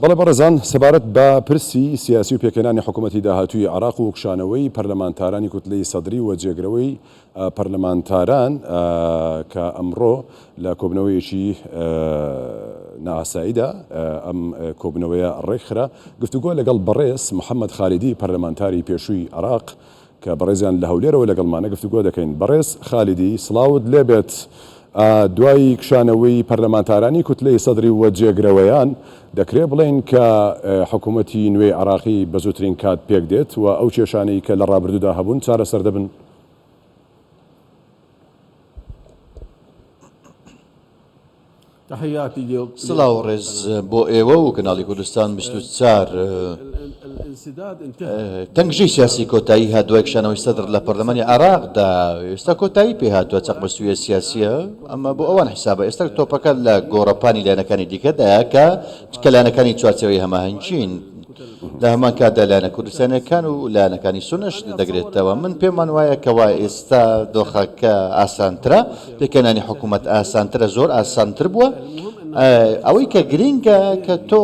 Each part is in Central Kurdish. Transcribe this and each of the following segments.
بەڵێ بەڕێزان، سەبارەت بە پرسی سیاسی و پێکهێنانی حکومەتی داهاتووی عێراق و کشانەوەی پەرلەمانتارانی کوتلەی سەدری و جێگرەوەی پەرلەمانتاران کە ئەمڕۆ لە کۆبنەوەیەکی نائاساییدا ئەم کۆبنەوەیە ڕێکخرا، گفتوگۆ لەگەڵ بەڕێز محەمەد خالیدی پەرلەمانتاری پێشووی عێراق کە بەڕێزیان لە هەولێرەوە لەگەڵمانە گفتوگۆ دەکەین. بەڕێز خالیدی، سڵاوت لێبێت، دوای کشانەوەی پەرلەمانتارانی کوتلەی سەدری و جێگرەوەیان، دەکرێ بڵێین کە حکوومەتی نوێی عێراقی بە زووترین کات پێک دێت و ئەو کێشانەی کە لە ڕابردوودا هەبوون چارەسەر دەبن؟ سڵاو و ڕێز بۆ ئێوە و کەناڵی کوردستان بیست و چوار. تەنگژەی سیاسی کۆتایی هات دوای کشانەوەی سەدر لە پەرلەمانی عێراقدا، ئێستا کۆتایی پێ هاتووە چەقبەستوویە سیاسییە، ئەمە بۆ ئەوان حیسابە، ئێستا تۆپەکە لە گۆڕەپانی لایەنەکانی دیکەدایە کە لایەنەکانی چوارچێوەی هەماهەنگین. لە هەمان کاتدا لایەنە کوردستانیەکان و لایەنەکانی سونەش دەگرێتەوە، من پێمان وایە کەوا ئێستا دۆخەکە ئاسانترە، پێکهێنانی حکومەت ئاسانترە زۆر ئاسانتر بووە، ئەوەی کە گرینگە کە تۆ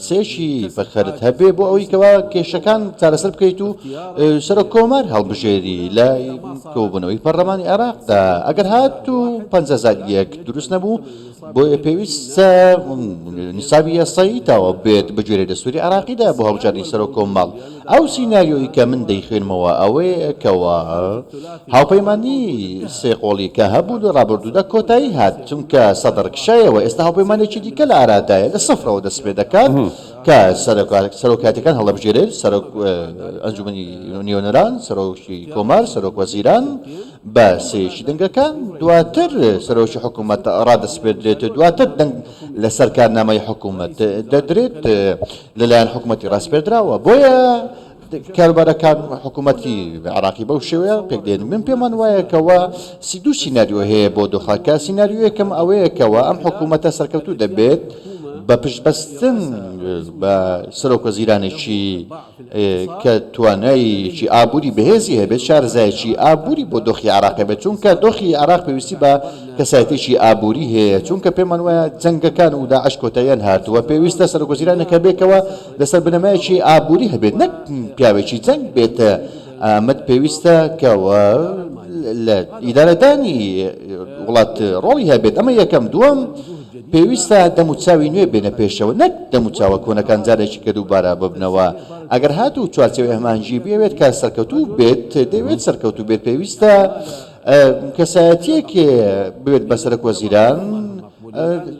سێکی بەخەرت هەبێ بۆ ئەوەی کەوا کێشەکان چارەسەر بکەیت و سەرۆک کۆمار هەڵبژێری لە کۆبوونەوەی پەڕلەمانی عێراقدا ئەگەر هات و پەنجا زائید یەک دروست نەبوو بۆیە پێویستە نیسابی یاسایی تاوا بێت بەگوێرەی دەستوری عێراقیدا بۆ هەڵبژاردنی سەرۆک کۆمەڵ، ئەو سیناریۆی کە من دەیخوێنمەوە ئەوەیە کەوا هاوپەیمانی سێ قۆڵی کە هەبوو لە ڕابردوودا کۆتایی هات چونکە سەدڕ کشایەوە ئێستا هاوپەیمانێکی دیکە لە ئارادایە لە سفرەوە دەست پێ دەکات کە سەرۆکایەتیەکان هەڵەبژێرێت سەرۆک ئەنجومەنی نوێنەران، سەرۆکی کۆمار، سەرۆک وەزیران. بە سێیەکی دەنگەکان دواتر سەرۆکی حکوومەت ڕادەسپێردرێت، دواتر دەنگ لەسەر کارنامەی حکوومەت دەدرێت لەلایەن حکوومەتی ڕاسپێردراوە، بۆیە کاروبارەکان حکوومەتی عێراقی بەو شێوەیە پێکدێن، من پێمان وایە کەوا سی دوو سیناریۆ هەیە بۆ دۆخەکە، سیناریۆیەکەم ئەوەیە کەوا ئەم حکوومەتە سەرکەوتوو دەبێت بە پشتبەستن بە سەرۆکوەزیرانێکی. کە توانایەیەکی ئابووری بەهێزی هەبێت، شارەزایەکی ئابووری بۆ دۆخی عێراق هەبێت، چونکە دۆخی عێراق پێویستی بە کەسایەتیەکی ئابووری هەیە، چونکە پێمان وایە جەنگەکان و داعش کۆتاییان هاتووە، پێویستە سەرۆکوەزیرانێک هەبێکەوە لەسەر بنەمایەکی ئابووری هەبێت، نەک پیاوێکی جەنگ بێت، ئامەد پێویستە کە لە ئیدارەدانی وڵات ڕۆڵی هەبێت ئەمە یەکەم دووەم پێویستە دەموچاوی نوێ بێنە پێشەوە نەک دەموچاوە کۆنەکان جارێکی کە دووبارە ببنەوە ئەگەر هات و چوارچەوەی هەمانجی بێت کە سەرکەوتوو بێت دەوێت سەرکەوتوو بێت پێویستە کەسایەتیەکێ بێت بە سەرک وەزیران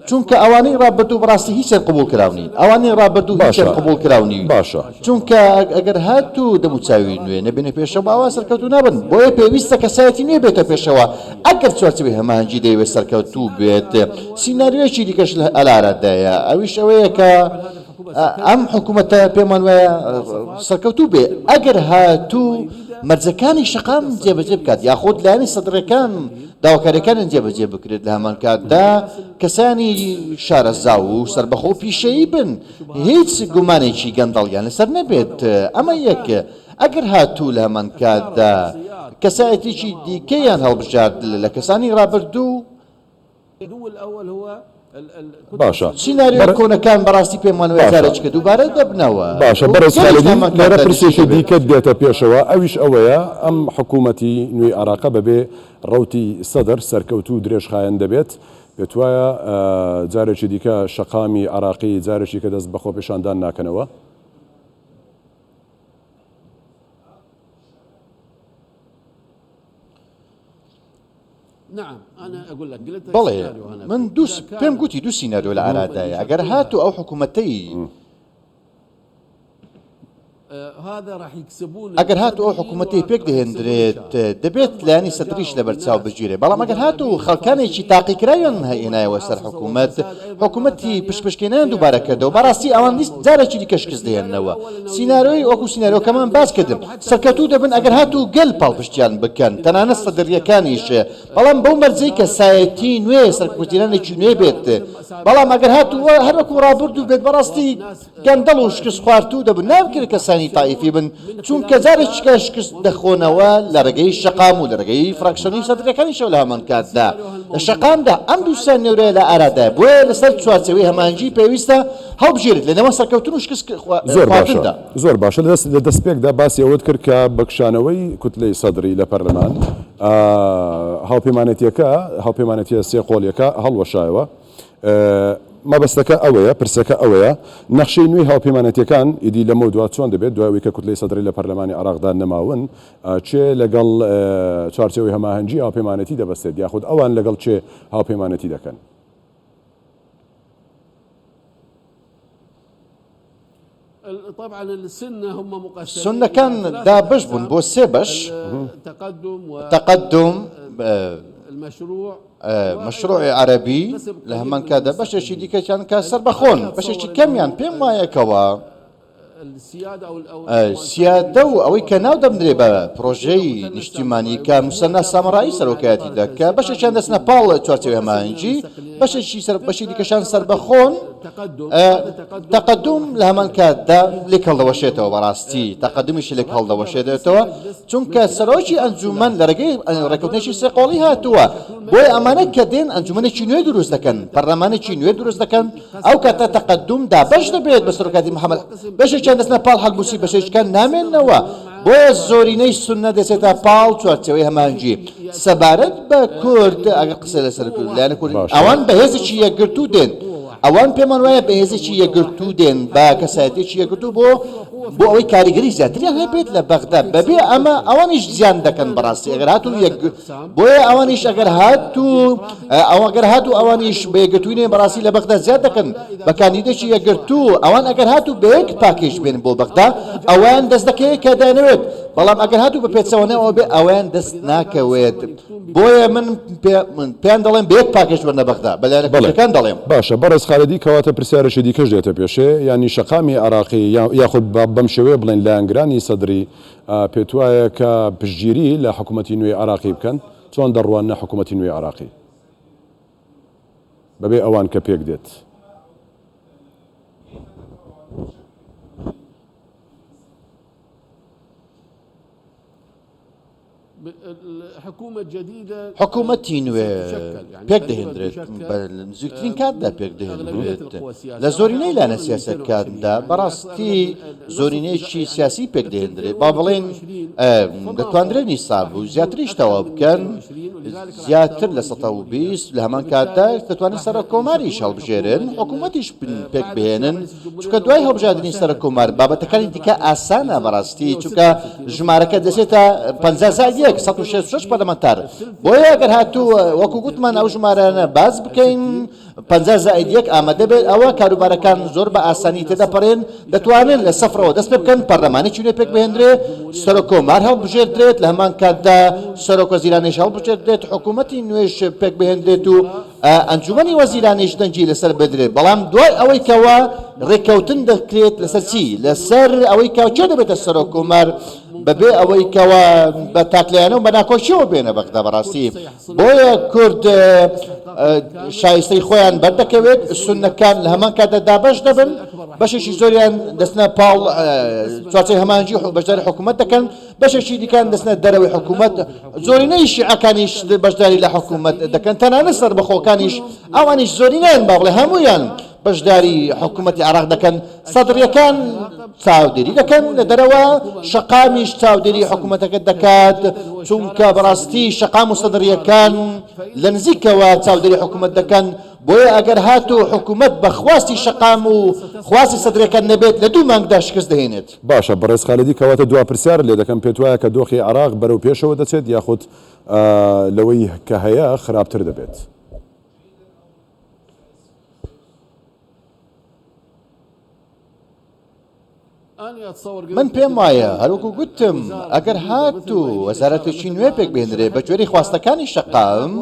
چونکە ئەوانەی ڕابردوو بەڕاستی هیچیان قبوڵ کراو نین ئەوانەی ڕابردوو هیچیان باشە قبوڵ کراو نین باشە چونکە ئەگ- ئەگەر هاتوو دەموچاوی نوێ نەبێنە پێشەوە ئەوا سەرکەوتوو نابن بۆیە پێویستە کەسایەتی نوێ بێتە پێشەوە ئەگەر چوارچێوەی هەماهەنگی دەیەوێت سەرکەوتوو بێت سیناریۆیەکی دیکەش لە ئەلارادایە ئەویش ئەوەیە کە ئە، ئەم حکوومەتە پێمان وایە ئە، سەرکەوتوو بێ ئەگەر هاتوو مەرجەکانی شەقام جێبەجێ بکات یاخود لایەنی سەدڕەکان داواکاریەکانیان جێبەجێ بکرێت لەهەمانکاتدا کەسانی شارەزا و سربەخۆ پیشەیی بن هیچ گومانێکی گەندەڵیان لەسەر نەبێت ئەمە یەک ئەگەر هاتوو لەهەمانکاتدا کەسایەتێکی دیکەیان هەڵبژارد لە کەسانی رابردوو باشە بەڕێز خالدی لێرە پرسێکی دیکەت دێتە پێشەوە ئەویش ئەوەیە ئەم حکوومەتی نوێی عێراقە بەبێ ڕەوتی سەدر سەرکەوتوو و درێژخایەن دەبێت پێتوایە جارێکی دیکە شەقامی عێراقی جارێکی کە دەست بە خۆپیشاندان ناکەنەوە؟ بەڵێ من دوو پێم گوتی دوو سیناریۆ لە ئارادایە ئەگەر هاتوو ئەو حکوومەتەی ئەگەر هاتوو ئەو حکوومەتەی پێک دەهێندرێت دەبێت لایەنی سەدریش لەبەر چاو بگیرێ بەڵام ئەگەر هاتوو خەڵکانێکی تاقیکراویان هێنایەوە سەر حکوومەت حکوومەتی پشپشکێنیان دووبارە کردەوە بەڕاستی ئەوان جارێکی دیکە شکست دێننەوە سیناریۆی وەکو سیناریۆکەمان باس کردم سەرکەوتوو دەبن ئەگەر هاتوو گەل پاڵپشتیان بکەن تەنانەت سەدریەکانیش بەڵام بەو مەرجەی کەسایەتی نوێ سەرکوتیرانێکی نوێ بێت بەڵام ئەگەر هاتوو هەر وەکو ڕابردوو بێت بەڕاستی گەندەڵ و شکست خواردوو دەبن ناکرێت کەسانی تائیفی بن چونکە جارێکیکە شکست دەخۆنەوە لە ڕێگەی شەقام و لە ڕێگەی فراکسیۆنی سەدریەکانیشەوە لە هەمان کاتدا لە شەقامدا ئەم دووسیان نێورەیە لە ئارادایە بۆیە لەسەر چوارچێوەی هەماهەنگی پێویستە هەڵبژێریت لە نێوان سەرکەوتن و شکست خواردندا. زۆر باشە لە دەستپێکدا باسی ئەوەت کرد کە بە کشانەوەی کوتلەی سەدری لە پەرلەمان هاوپەیمانەتیەکە هاوپەیمانەتیە سێ قۆلیەکە هەڵوەشایەوە مەبەستەکە ئەوەیە پرسەکە ئەوەیە نەخشەی نوێی هاوپەیمانەتەکان ئیدی لەمە دو چۆن دەبێت دوای کە کوتلەی سەدرری لە پەرلەمانی عراقدا نەماون چێ لەگەڵ چارچەوەی هەماهەنگی هاوپەیمانەتی دەبەستێت یاخود ئەوان لەگەڵ چێ هاوپەیمانەتی دەکەن سوننەکان دابەش بوون بۆ سێ بەش، تەقەدوم، مەشروعی عەرەبی، لە هەمان کاتدا بەشێکی دیکەشیان کە سەربەخۆن، بەشێکی کەمیان پێم وایە کەوا، سیادە و ئەوەی کە ناو دەبنرێ بە پڕۆژەی نیشتیمانی کە موسەننا سامرایی سەرۆکایەتی دەکە بەشێکیان دەستنە پاڵ چوارچێوی هەماهەنگی بەشێکی سەر بەشی دیکەشان سربەخۆن تەقدم لە هەمان کاتدا لێک هەڵدەوەشێتەوە بەڕاستی تەقدمیش لێک هەڵدەوەشێتەوە چونکە سەرۆکی ئەنجومەن لە ڕێگەی ڕێکوتنێکی سێقۆڵی هاتووە بۆی ئەمانە کە دێن ئەنجومەنێکی نوێ دروست دەکەن پەرلەمانێکی نوێ دروست دەکەن ئەو کاتە تەقەدوم دابەش دەبێت بە سەرۆکاتی محەمەد، بەشێکیان دەچنە پاڵ حەلبوسی بەشێکیان نامێننەوە، بۆیە زۆرینەی سوننە دەچێتە پاڵ چوارچێوەی هەماهەنگی. سەبارەت بە کورد ئەگەر قسە لەسەر لایەنە کوردی، ئەوان بە هێزێکی یەکگرتوو دێن، ئەوان پێمان وایە بە هێزێکی یەکگرتوو دێن، بە کەسایەتییەکی یەکگرتوو بۆ بۆ ئەوەی کاریگەری زیاتریان هەبێت لە بەغدا، بەبێ ئەمە ئەوانیش زیان دەکەن بەڕاستی ئەگەر هاتوون یەک بۆیە ئەوانیش ئەگەر هات و ئەوە گەر هات و ئەوانیش بەیەگرتوینێن بەڕاستی لە بەغدا زیاد دەکەن بە کاندیدێکی یەگرتو ئەوان ئەگەر هات و بەیەک پاکێج بێن بۆ بەغدا ئەوان دەست دەکەوێت کە دەیانەوێت بەڵام ئەگەر هات و بە پێچەوانەوە بێ ئەوان دەست ناکەوێت بۆیە من پێیان دەڵێن بەیەک پاکێج وەرنە بەغدا بە لایەنەکان دەڵێم باشە بەڕێز خالدی کەواتە پرسیارێکی دیکەش دێتە پێشێ یانی شەقامی عێراقی یاخود بەم شێوەیە بڵێن لایەنگرانی سەدری پێتوایە کە پشتگیری لە حکومەتی نوێی عێراقی بکەن؟ چۆن دەڕواننە حکومەتی نوێی عێراقی بەبێ ئەوان کە پێک دێت؟ حکومەتی نوێ پێکدەهێندرێت بە نزیکترین کاتدا پێکدەهێندرێت لە زۆرینەی لایەنە سیاسەتکاندا بەڕاستی زۆرینەیەکی سیاسی پێکدەهێندرێت با بڵێن دەتواندرێت نیساب و زیاتریش تەواو بکەن زیاتر لە 120 لە هەمان کاتدا دەتوانن سەرۆک کۆماریش هەڵبژێرن حکوومەتیش پێک بهێنن چونکە دوای هەڵبژاردنی سەرۆک کۆمار بابەتەکانی دیکە ئاسانە بەڕاستی چونکە ژمارەکە دەچێتە پەنجا زائید یەک سەد و شەست و شەش پەرلەمانتار بۆیە ئەگەر هاتوو وەکو گوتمان ئەو ژمارانە باس بکەین پەنجا زائید یەک ئامادە بێت ئەوە کاروبارەکان زۆر بە ئاسانی تێدەپەڕێن دەتوانن لە سەفرەوە دەست پێ بکەن پەرلەمانێکی نوێ پێک بهێندرێ سەرۆک کۆمار هەڵبژێردرێت لە هەمان کاتدا سەرۆک وەزیرانیش هەڵبژێردرێت حکوومەتی نوێش پێک بهێندرێت و ئەنجومەنی وەزیرانیش دەنگی لەسەر بدرێت، بەڵام دوای ئەوەی کەوا رێککەوتن دەکرێت لەسەر چی؟ لەسەر ئەوەی کە کێ دەبێتە سەرۆک کۆمار بەبێ ئەوەی کەوا بە تاکلایەنە و بە ناکۆکیەوە بێنە بەغدا بەڕاستی بۆیە کورد شایستەی خۆیان بەردەکەوێت سنەکان لە هەمان کاتدا دابەش دەبن بەشێکی زۆریان دەستنە پاڵ چوارچەی هەمانجی بەشداری حکوومەت دەکەن بەشێکی دیکەیان دەچنە دەرەوەی حکوومەت، زۆرینەی شیعەکانیش بەشداری لە حکوومەت دەکەن، تەنانەت سەربەخۆکانیش، ئەوانیش زۆرینەیان با بڵێین هەموویان بەشداری حکوومەتی عێراق دەکەن، سەدرییەکان چاودێری دەکەن لە دەرەوە، شەقامیش چاودێری حکوومەتەکە دەکات، چونکە بەڕاستی شەقام و سەدرییەکان لە نزیکەوە چاودێری حکوومەت دەکەن، بۆیە ئەگەر هاتوو حکوومەت بە خواستی شەقام و خواستی سەدرییەکان نەبێت لە دوو مانگدا شکست دەهێنێت. باشە بەڕێز خالدی کەواتە دوا پرسیارت لێ دەکەم پێت وایە کە دۆخی عێراق بەرەو پێشەوە دەچێت یاخود لەوەی کە هەیە خراپتر دەبێت؟ من پێم وایە هەروەکو گوتم ئەگەر هاتوو وەزارەتێکی نوێ پێک بێنرێ بە گوێرەی خواستەکانی شەقام،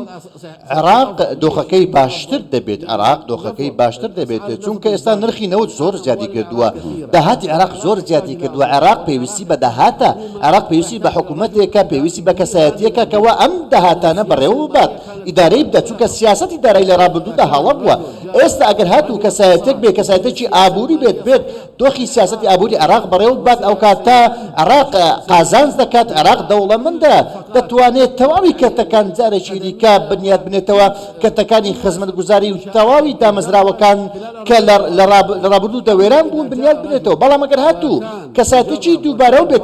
عێراق دۆخەکەی باشتر دەبێت عێراق دۆخەکەی باشتر دەبێت چونکە ئێستا نرخی نەوت زۆر زیادی کردووە داهاتی عێراق زۆر زیادی کردووە عێراق پێویستی بە داهاتە عێراق پێویستی بە حکومەتێکە پێویستی بە کەسایەتیەکە کەوا ئەم داهاتانە بەڕێوە ببات ئیدارەی بدات چونکە سیاسەتی دارایی لە ڕابردوودا هەڵە بووە ئێستا ئەگەر هاتوو کەسایەتێک بێت کەسایەتێکی ئابووری بێت بێت دۆخی سیاسەتی ئابووری عێراق بەڕێوە ببات، ئەوکات کە عێراق قازانج دەکات، عێراق دەوڵەمەندە، دەتوانێت تەواوی کەرتەکان جارێکی دیکە بنیات بنێتەوە، کەرتەکانی خزمەتگوزاری و تەواوی دامەزراوەکان کە لە ڕابردوودا وێران بوون بنیات بنێتەوە، بەڵام ئەگەر هاتوو کەسایەتییەکی دووبارەو بێت،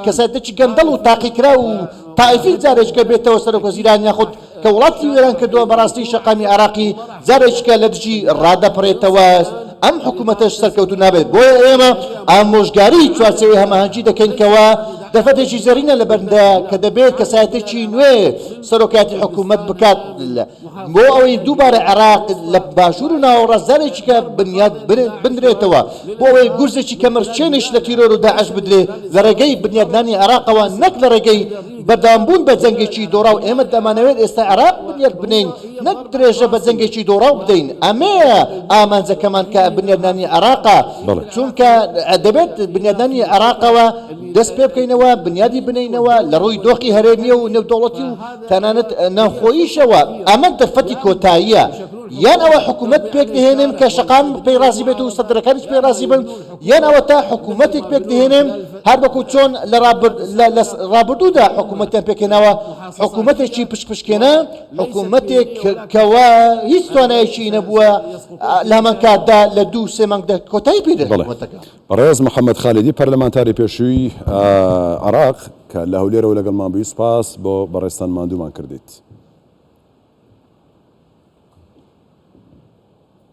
کەسایەتییەکی گەندەڵ و تاقیکراو و تائیفی جارێکیکە بێتەوە سەرۆکوەزیران یاخود کە وڵاتی وێران کردوە بەڕاستی شەقامی عێراقی جارێکیکە لە دژی ڕادەپەڕێتەوە ئەم حکومەتەش سەرکەوتو نابێت بۆیە ئێمە ئامۆژگاری چوارچێوەی هەماهەنگی دەکەین کەوا دەرفەتێکی زێڕینە لە بەرندە کە دەبێت کەسایەتێکی نوێ سەرۆکایەتی حکومەت بکات بۆ ئەوەی دووبارە عێراق لە باشوور و ناوەڕاست جارێکیکە بنیات بنرێتەوە بۆ ئەوەی گورزێکی کەمرچێنیش لە تیرۆر و داعش بدرێت لە ڕێگەی بنیادنانی عێراقەوە نەک لە ڕێگەی بەردەوامبوون بە جەنگێکی دۆڕاو ئێمە دەمانەوێت ئێستا عێراق بنیات بنێین نەک درێژە بە جەنگێکی دۆڕاو بدەین ئەمەیە ئامانجەکەمان کە بنیادنانی عێراقە چونکە دەبێت بنیادنانی عێراقەوە دەست پێ بکەینەوە بنیادی بنێینەوە لە ڕووی دۆخی هەرێمیە و نێودەوڵەتی و تەنانەت ناوخۆییشەوە ئەمە دەرفەتی کۆتاییە یان ئەوە حکومەت پێک دەهێنن کە شەقام پێی ڕازی بێت و سەدرەکانیش پێی ڕازی بن یان ئەوەتا حکوومەتێک پێک دەهێنێن هەر وەکو چۆن لە ڕابردوودا حکوومەتیان پێکهێناوە، حکوومەتێکی پشپشکێنە، حکوومەتێک کەوا هیچ توانایەکی نەبووە لە هەمان کاتدا لە دوو سێ مانگدا کۆتایی پێ دێت. بەڕێز محەممەد خالیدی پەرلەمانتاری پێشووی عێراق کە لە هەولێرەوە لەگەڵمان بووی، سپاس بۆ بەڕێزتان ماندوومان کردیت.